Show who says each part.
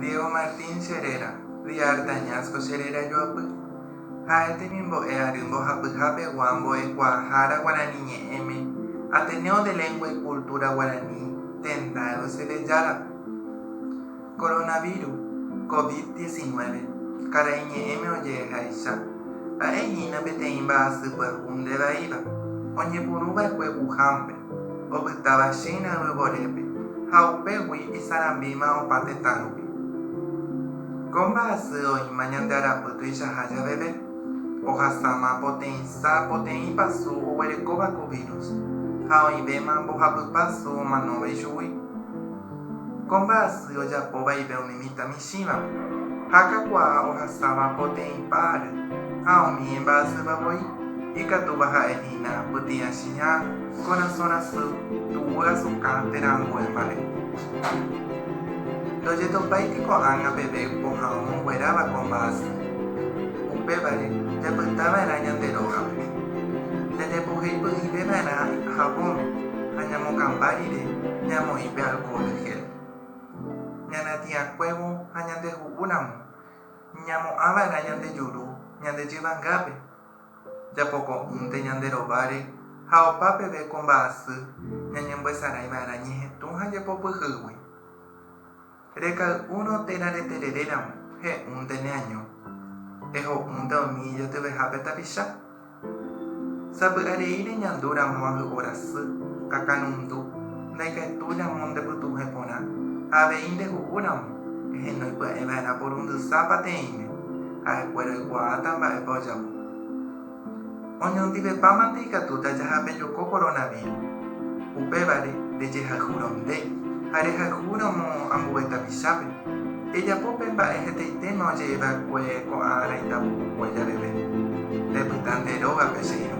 Speaker 1: Diego Martín che réra, Di Artañazco che réra joapy. Ha'e temimbo'e ary mbohapyha pegua mbo'ekuaahára guarani ñe'ẽme, Ateneo de Lengua y Cultura Guaraní, tenda Eusebellárape. Coronavirus, Covid diecinueve, karai ñe'ẽme oje'ehaicha. Ha'e hína peteĩ mba'asy pyahu nde vaíva, oñepyrũ va'ekue Wuhan-pe. opytáva China yvyvorépe ha upégui isarambíma opa tetãrupi. Ko mba'asy oĩma ñande arapy tuichaha javeve, ohasáma poteĩsa poteĩ pasu oguerekóva ko vírus ha oĩvéma mbohapypa su omanóva ichugui. Ko mba'asy ojapo vaive umi mitãmicha. Isĩvape, ha kakuaa ohasáva poteĩ par, ha umi imba'asýva voi, ikatúva ha'e hína pyti'ãchiña, korasõ rasy, tuguy asukã térã ambue mba'e. Ndojetopáiti ko'ág̃a peve pohã omongueráva ko mba'asy. Upévare, japyta va'erã ñande rógape. Jañapohéi py'ỹive va'erã havón, ha ñamokãmba rire ñamoĩ pe alcohol gel. ñanatiãkuévo ha ñandeju'úramo, ñamo'ãva'erã ñande juru ñande jyvangápe, japoko'ỹnte ñande rováre ha opa peve ko mba'asy ñañemboesaráiva'erã ñehetũ ha jepopyhýgui. Rekay'úrõ térã retereréramo, he'únte neaño, eho'únte umi ijetyvehápe tapicha. Sapy'arei reñandu ramo ahy'orasy, akanundu, ndaikatu ramo ndepytuhẽ porã, ha avei ndehu'u ramo, ehenói pya'e va'erã porundysa pateĩme, ha'e kuéra oikuaáta mba'épa ojapo. Oñondivepámante ikatúta jahapejoko coronavíru. Upévare, rejehayhúrõ nde, ha rehayhúramo ambue tapichápe. Ejapo pe mba'e hetaitéma oje'e va'ekue ko'ã ára itavukukue jareve. Repyta nde rógape, che irũ.